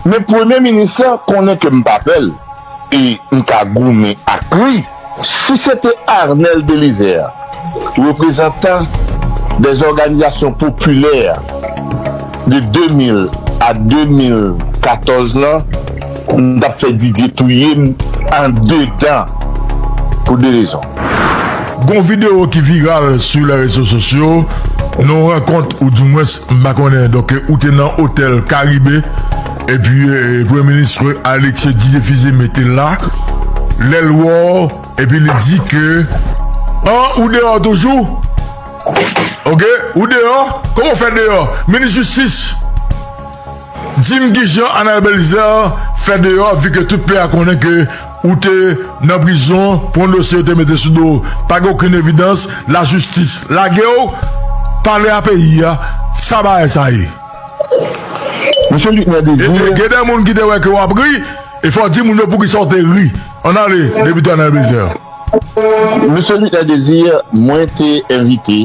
Men premye minis lan konnen ke m pa pè l e m ka goumen ak li. Si se te Arnel Belizaire, reprezantan dè zòganizasyon popilè de 2000 a 2014 lan, m t ap fè Didier touye m andedan pou de rezon. Gon video ki viral sou lè rezo sosyo nou rankont ou di mwens m pa konnen donk ou te nan otèl karibe epi premye ministre Alexis Didier Fils-Aimé mete la lèl wè w epi li di ke an ou deyò toujou ok ou deyò kòman w fè deyò minis jistis di m kijan Anabel Zèr fè deyò vi ke tout peyi a konnen ke Ou te nan prizon pou yon dosye yo te mete sou do w, pa gen okenn evidans, lajistis lage w, pale a peyi a, sa bagay sa ye? Mesye Luc Nè Désir. E gen de moun ki te wè ke w ap ri, e fò w di moun yo poukisa w te ri. Ann ale, Depite Arnel Belizaire. Mesye Luc Nè Désir, mwen te envite.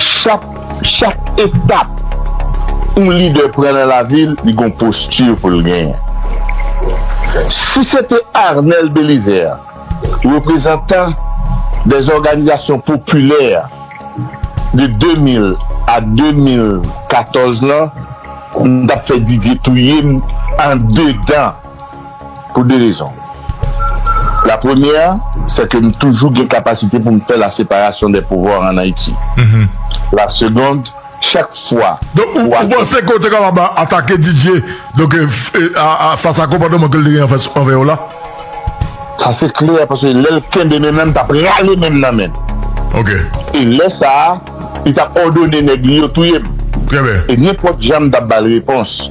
Chak chak etap yon lidè pran nan lavi l, li gen yon posti pou l genyen. Si se te Arnel Belizaire, reprezantan des organisations populaires de 2000 a 2014 lan, m t ap fè Didier touye m andedan. Pou 2 rezon. La premyè, sè ke m toujou gen kapasite pou m fè la separasyon dè pouvwa an Ayiti. La segond, chak fwa Donk ou panse ke w te kapab atake Didier donk fas a konpòteman ke l te gen anvè w la? Sa se klè paske lè l kenbe men m la m t ap rale men m nan men l. E lè sa a, li t ap òdone nèg li yo touye m. E nenpòt jan m t ap ba l repons.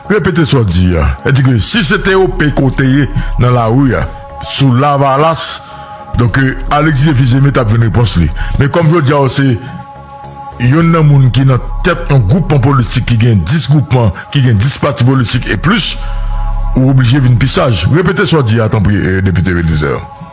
Repete sa w di a. Sa di ke si se te OP ke w te ye nan lari a, sou Lavalas, donk Alexis Défi Zeme t ap jwenn repons li. Men kòm jodi a w se youn nan moun ki nan tèt yon gwoupman politik ki gen 10 gwoupman, ki gen 10 pati politik e plis, ou oblije vin pi saj. Repete sa w di a tanpri, Depite Bélizaire.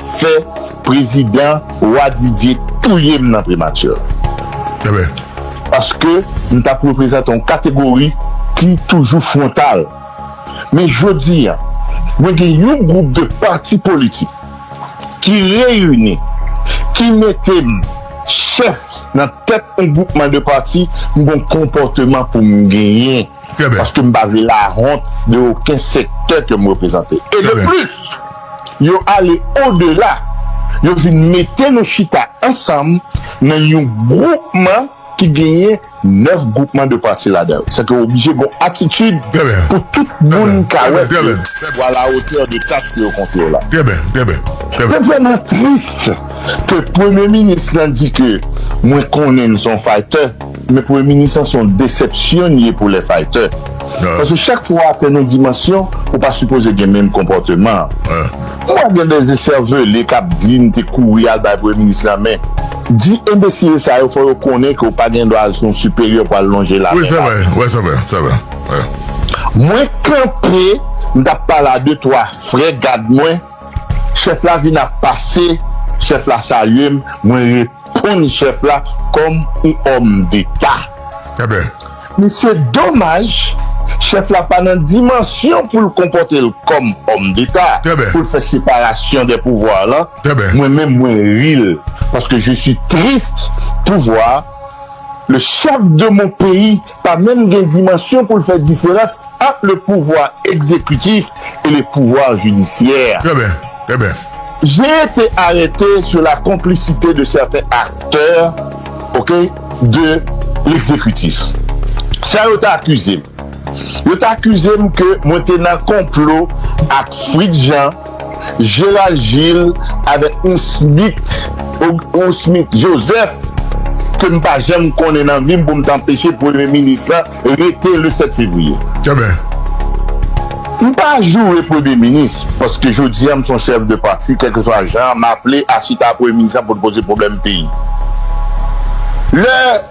Fè prezidan wa Didier touye m nan premature. Ebyen. Paske m tap reprezante yon kategori ki toujou frontal. Men jodi an, mwen gen yon gwoup de pati politik ki reyini, ki mete m chèf nan tèt yon gwoupman de pati, m gon konpòteman pou m genyen. Trè byen. Paske m pa vle lahont de oken sektè ke m reprezante. E de plis! Yo ale odela, yo vin mete nou chita ansanm nan yon gwoupman ki genyen 9 gwoupman de pati ladan l. Sèke oblije gen yon atitid pou tout moun ka wè ke ou a la otè de tach ke yo konfye w la. Se vrèman trist ke premye minis lan di ke mwen konnen l se yon faytè. Men premye minis lan son desepsyon ye pou lè faytè paske chak fwa ou atenn yon dimansyon ou pa sipoze gen menm konpòteman an mwen gen des eservele kap di m te kouri al bay premye minis la men di enbesile sa yo fò yo konnen ke ou pa gen dwa al sou yon siperyè pou al lonje la men mwen kanpe m tap pale a de twa frè gad mwen chèf la vin ap pase chèf la salye m mwen Prann chèf la kòm yon òm deta. Enben, misye domaj chèf la pa nan dimansyon pou l konpòte l kòm òm deta, pou l fè separasyon dè pouvwa lan, mwen menm mwen ri l paske je suis triste pou vwa le chèf de mon peyi pa menm gen dimansyon pou l fè diferans ant le pouvwa egzekitif e le pouvwa jidisyè. Trè byen, trè byen. J'ai été arrêté sur la complicité de certains acteurs, ok, de l'exécutif. Sa yo te akize m. Yo te akize m ke mwen te nan konplo ak Fritz Jean. Gérald Gilles avèk yon Smith yon Smith Joseph ke m pa janm konnen nan vi m pou m t anpeche premye minis lan rete le 7 fevriye. Enben. M pa joure premye minis paske jodi an m s on chèf de pati kèlkeswa jan m aple a chita a premye minis lan pou l poze pwoblèm peyi. Lè.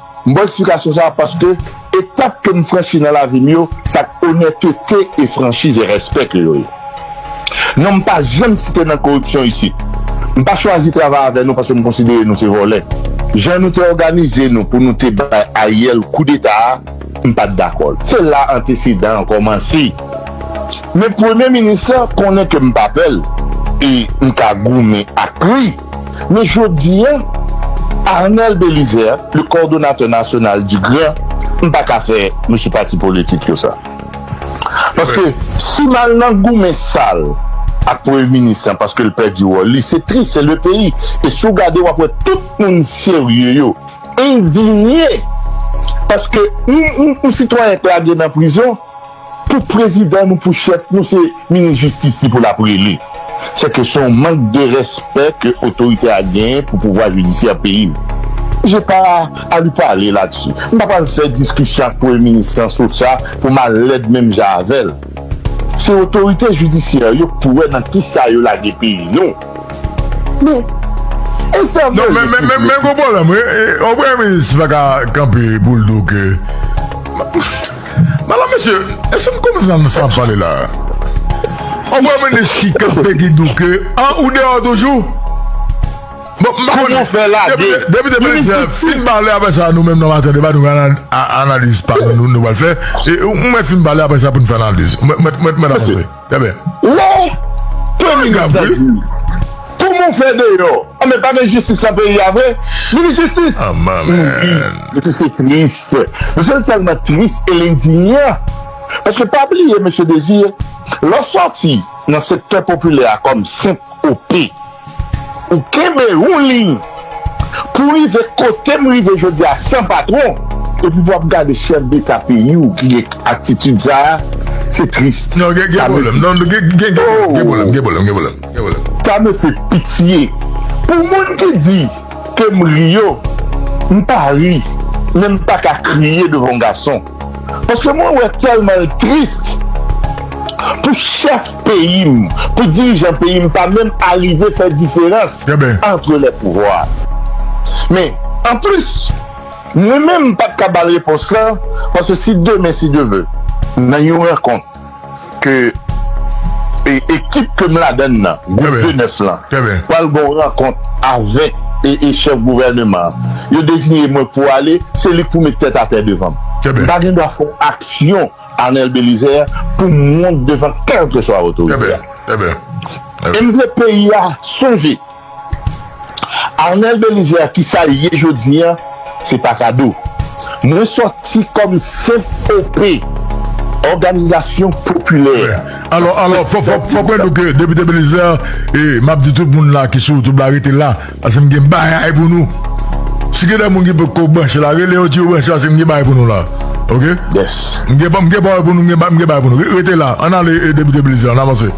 M bay eksplikasyon sa a paske etap ke m franchi nan lavi m yo, sa k onètete e franchiz e rèspè ke yo ye. Non m pa janm site nan koripsyon isit. M pa chwazi travay avè nou paske m konsidere nou se vòlè. Jan nou te òganize nou pou nou te bay Ariel koudeta a, m pa t dakò l. Se la antesedan an kòmanse. Men premye minis lan konnen ke m pa pè l e m ka goumen ak li. Men jodi a, Arnel Belizaire, le coordonnateur national du grand, m pa ka fè mesye pati politik yo sa. Paske si m al nan goumen sal ak premye minis lan paske l pèdi wòl li, se tris, se le peyi. E si w gade w ap wè tout moun serye yo endinye paske yon sitwayen k lage nan prizon. Pou prezidan nou pou chèf nou se minis jistis li pou lap rele. Sèke se yon mank de respè ke otoritè a genyen pou pouvwa jidisyè peyi nou. J'ai pas à lui parler là-dessus. M pa pral fè diskisyon ak premye minis lan sou sa pou m al lèd menm jan avè l. Se otorite jidisyè yo k pou wè nan kisa yo lage peyi nou. Men, esèvele pou vle piti. Yon premye minis pa ka kanpe pou l di w ke. Madame mesye eske nou konprann sa nap pale la An mwen mwen eski kap pegi douke an ou deyò toujou Bon m pa konnen Depi 2019 fin pale aprè sa nou menm nan maten debat nou gen analiz pa nou nou pral fè ou mwen fin pale aprè sa poun fè analiz mwen t mèt avanse. Wow Tony gen sa di wi. Kouman ou fè deyò an men pa gen jistis nan peyi a vre nou vle jistis nou ri mesye se tris mesye tèlman tris el endinya paske pa bliye mesye Désir lè w sòti nan sektè popilè a kòm senp OP Ou kenbe yon liy pou rive kote m rive jodi a san patwon epi pou ap gade chèf deta peyi w ki gen atitid sa a se tris sa me se pitye pou moun ki di ke m ri yo m pa ri men m pa ka kriye devan yon gason. Paske mwen wè tèlman l tris pou chèf peyi m, pou dirijan peyi m pa menm arive fè diferans antre lè pouvwa. Men, anplis, mwen menm m pa t ka ba l repons lan, paske si demen si Dieu veut, nan yon rankont, ke ekip ke m ladann nan, gwoup de 9 lan, pral gen yon rankont avèk chèf gouvèneman an, yo dezinye mwen pou ale, se li k pou met tèt atè devan m. M pa gen dwa fè yon aksyon, Arnel Bélizaire, pou m wont devan kèlkeswa otorite a. E m vle peyi a sonje. Arnel Belizaire kisa l ye jodi an se pa kado mwen sòti kòm senp OP òganizasyon popilè Alò alò fò fò fò mwen nou ke Depite Belizaire e map di tout moun la ki sou YouTube la rete la paske m gen bagay pou nou si gen de moun ki potko branche la rele yo di yo branche paske m gen bagay pou nou la ok m gen m gen pawòl pou nou m gen bagay pou nou rete la ann ale Depite Belizaire ann avanse.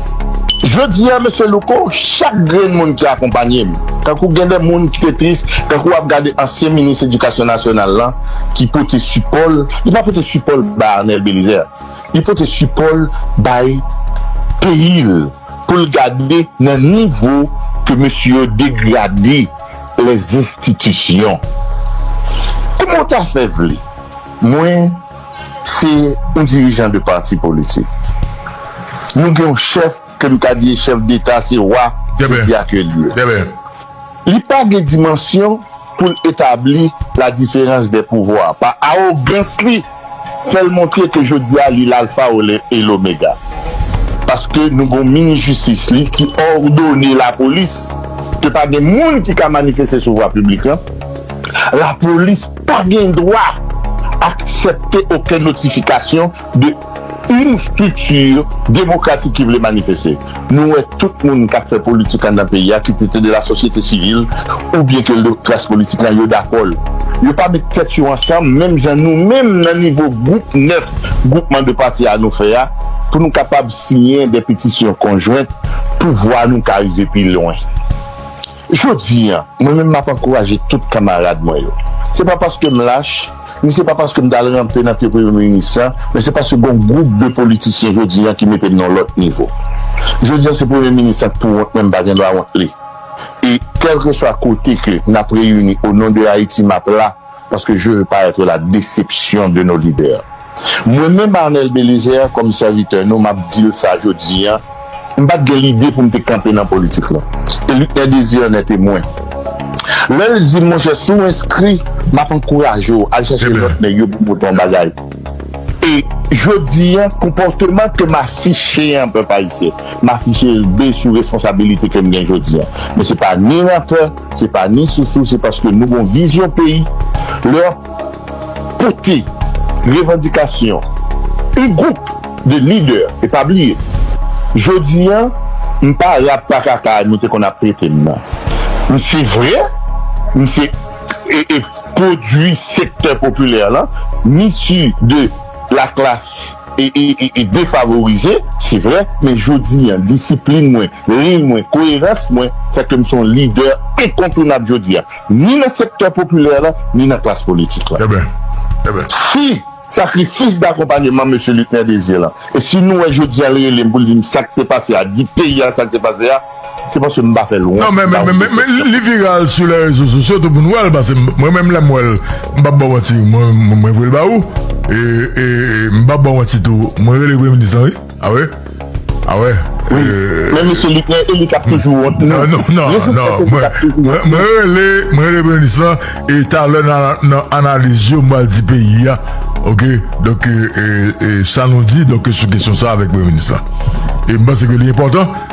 Jodi a Mesye Louko, chak grenn moun ki akonpanye m, tankou gen de moun ki te tris, tankou w ap gade ansyen minis edikasyon nasyonal lan ki pote sipò l, li pa pote sipò l bay Arnel Belizaire, li pote sipò l bay peyi l pou l gade nan nivo ke mesye yo degrade lèzinstitisyon. Kouman w ta fè vle mwen. Se yon dirijan de pati politik. Nou gen yon chèf ke m ka di e chèf deta, se wa peyi a ke li ye. Li pa gen dimansyon pou l etabli la diferans dè pouvwa. Pa awogans li, fè l montre ke jodi a li lalfa e lomega. Paske nou gen yon minis jistis li ki òdone lapolis ke pa gen moun ki ka manifeste sou vwa piblik lan. Lapolis. Pa gen dwa aksepte oken notifikasyon de yn strikti demokratik ki vle manifeste. Nou wè tout moun kap fè politik andan peyi a ki te te de la sosyete sivil ou byen ke le klas politik lan yo dakò l. Yo pa met tèt yo ansanm menm jan nou menm nan nivo gwoup 9 gwoupman de pati a nou fè a pou nou kapab siyen de petisyon konjwent pou vwa nou ka rive pi lwen. Jodi a, mwen menm m ap ankouraje tout kanmarad mwen yo. Se pa paske m lach, ni se pa paske m t al ranpe nan pye premye minis la, men se paske gen yon gwoup de politisyen jodi a ki mete n nan yon lòt nivo. Jodi a se premye minis la k pou wont men m pa gen dwa wont li. E kèlkeswa kote ke n ap reyini o non de Ayiti m ap la. Parce que je veux pas être la déception de nos leaders. Mwen menm Arnel Bélizaire kòm sèvitè nou map dil sa jodi an, m pat gen lide pou m te kanpe nan politik lan. E Luckner Désir en est témoin. Lè l di m monchè si w enskri map ankouraje w al chache lòt nèg yo pou pote yon bagay. E jodi an konpòteman ke m afiche an pèp ayisyen, m afiche l be sou responsabilite ke m gen jodi an. Mwen se pa ni rampè, Se pa ni sousou se paske nou gon vizyon peyi lè ap pote revandikasyon yn gwoup de lidè e pa bliye jodi an m pa rat pa kaka nou te konn ap trete m nan m se vre m se pwodwi sektè popilè lan m issu de la klas. e defavorize, se vre, men jodi an, disiplin mwen, liy mwen, koyerans mwen fè ke m se yon lidè enkontounab jodi a, ni nan sektè popilè la, ni nan klas politik la. Eben! Eben! Si sakrifis dakonpanyeman Mesye Luckner Désir lan, e si nou wè jodi an l rele m pou l di m sa k te pase a, di peyi a sa k te pase a, Se paske m pa fè l wont m pa wont desepsyon. Li viral sou lè rezo sosyo tou pou n wè l pase mwen menm lè m wè l m pap ba w manti mwen voye l ba ou e m pap ba w manti tou mwen rele premye minis lan wi a wè a wè e men mesye li gen e li kap toujou wont tou nan non nan nan mwen rele mwen rele premye minis lan e talè nan analiz yo m pral di peyi a ok donk e sa nou di donk sou kesyon sa avèk premye minis lan e m panse ke li enpòtan.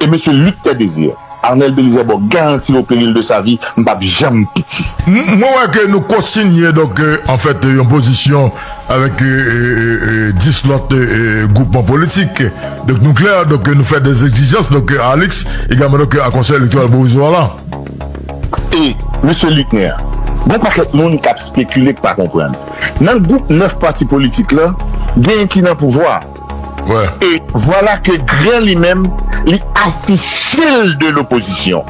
E mesye Luc Tè Désir, Arnel Belizè baw garanti au peril de sa vie, m pap janm piti. Mwen wè ke nou konsinye donk an fèt yon pozisyon avèk 10 lòt gwoupman politik. Donk nou klè, donk nou fè 2 egzijans donk a Alix egalman donk a Konsèy Elektoral Pwovizwa la. E mesye Luckner, gon pakèt moun kap spekile k pa konprann. Nan gwoup 9 pati politik lan, gen ki nan pouvwa. E vwala ke Gran li menm li afiche l de lopozisyon.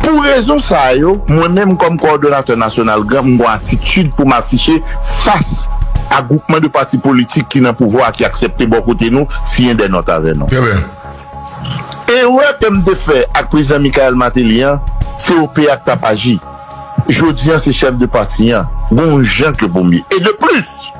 Pou rezon sa yo, mwen menm kòm kowòdonatè nasyonal Gran m gon atitid pou m afiche fas a gwoupman de pati politik ki nan pouvwa a ki aksepte bò kote nou siyen dè nòt avè nou. Erè ke m te fè ak Prezidan Michaël Martelly an, se OP a k tap aji. Jodi an se chèf de pati an, gon jan ke pou m ye. E de plis!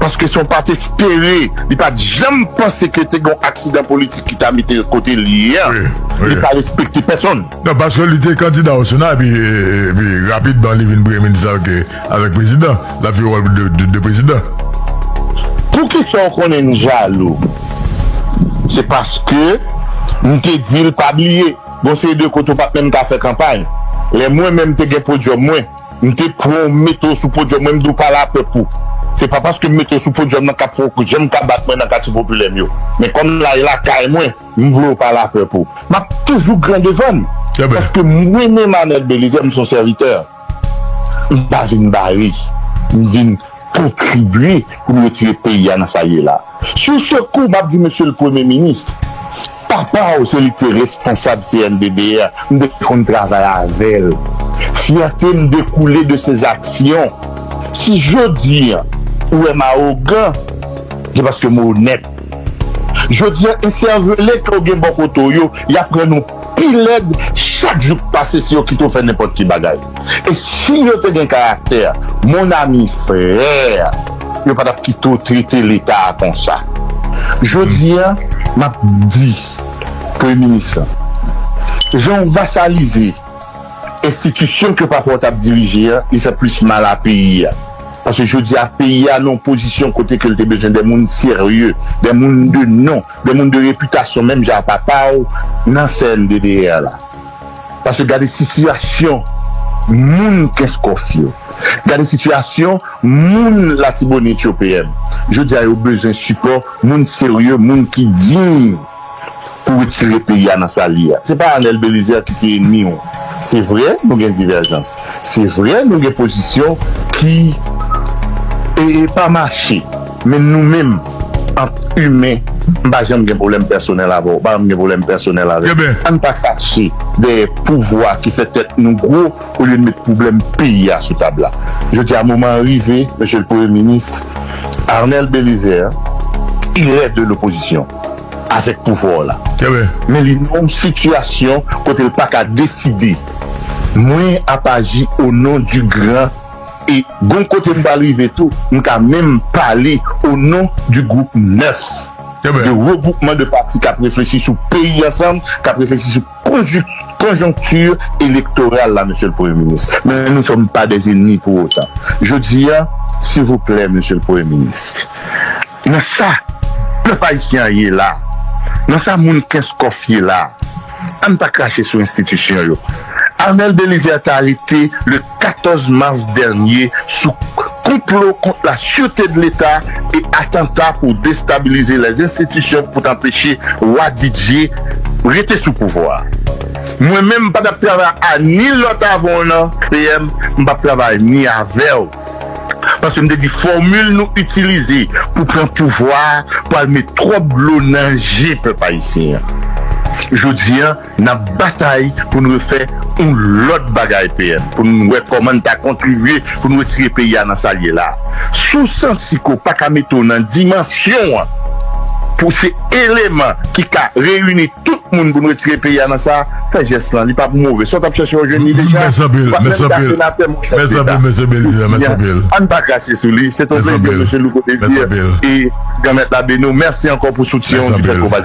Paske si on pat espere, li pat janm panse ke te gen yon aksidan politik ki ta mete l kote l ye a. Li pa respekte pèsonn. Non, paske li te kandida o Sena epi rapidman li vin premye minis avèk prezidan. L ap jwe wòl de prezidan. Poukisa ou konnen m jalou? Se paske m te di l pa bliye gen yon seri de kote ou pat menm ka fè kanpay. Lè mwen menm te gen podyòm mwen. M te pranw m mete w sou podyòm mwen m di w pa la pèp ou se pa paske m mete w sou podyòm nan kap fè w janm ka bat mwen nan katye popilè m yo men kòm la e lakay mwen m vle w pa la pèp ou map toujou gran devan m paske mwen menm Anèl Belizè m son sèvitè m pa vin bare m vin kontribye pou n retire peyi a nan sa l ye la sou se kou m ap di mesye l premye minis papa w se li k te responsab CNBBR m te konn travay avè l fyète m dekoule de se zaksyon si jodi a ou wè m awogan se paske m onèt jodi a esèvele ke w gen bò kote w yo y ap rann ou pi lèd chak jou k pase si yo kite w fè nenpòt ki bagay. E si yo te gen karaktè mon ami frère yo pa tap kite w trete leta a konsa. Jodi a map di premye minis lan jan w vasalize enstitisyon ke papa w tap dirije a li fè plis mal a peyi a paske jodi a peyi a nan yon pozisyon kote ke l te bezwen de moun serye de moun de non De moun de repitasyon menm jan a papaw nan CNDDR la. Paske gade sitiyasyon moun kenskof yo. Gade sitiyasyon moun latibonit yo PM. Jodi a yo bezwen sipò moun serye, moun ki diy pou retire peyi a nan sa l ye a. Se pa Arnel Belizaire ki se enmi w. Se vre nou gen divèjans. Se vre nou gen pozisyon ki pa mache. Men nou menm ant imen m pa janm gen pwoblèm pèsonèl avè w, pa janm gen pwoblèm pèsonèl avè m. An n pa kache dèyè pouvwa ki fè tèt nou gwo olye n met pwoblèm peyi a sou tab la. Jodi a moman an rive, Mesye le Premye Minis Arnel Belizaire, irè de lopozisyon avèk pouvwa w la, men li nan yon sitiyasyon kote l pa ka deside. Mwen ap aji onon di gran. E gon kote m pral rive tou, m ka menm pale o non di gwoup 9 de regwoupman de pati k ap reflechi sou peyi ansanm, k ap reflechi sou konjonkti elektoral la, Mesye l Premye Minis. Men nou sòm pa dè ennmi pou otan. Jodi a, silvouplè Mesye l Premye Minis, nan sa pèp ayisyen an ye la, nan sa moun Kenskòf ye la, ann pa krache sou enstitisyon yo. Arnel Bélizaire ta rete le. 14 mas dènye sou konplo kont la sirte de leta e atanta pou destabilize lè enstitisyon pou t anpeche Wa Didye rete sou pouvwa. Mwen menm m pa t ap travay a ni lòt avan w nan PM, m pa p travay ni avè w. Paske m te di fòmil nou itilize pou pran pouvwa a pral met twòp dlo nan je pèp ayisyen an. Jodi a. Nap batay pou n refè yon lòt bagay PM pou n wè kòman n ta kontribye pou n retire peyi a nan sa l ye la. Si w santi ke w pa ka mete w nan dimansyon an pou w se eleman ki ka reyini tout moun pou n retire peyi a nan sa, fè jès lan li pa pou move. Sa w tap chèche w jwenn li deja. Ou pa menm ka senatè mon chèf deta. Ebyen an n pa krache sou li. Se t yon plezi Mesye Louko Desir e Granmèt la beni w. Mèsi ankò pou soutyen w.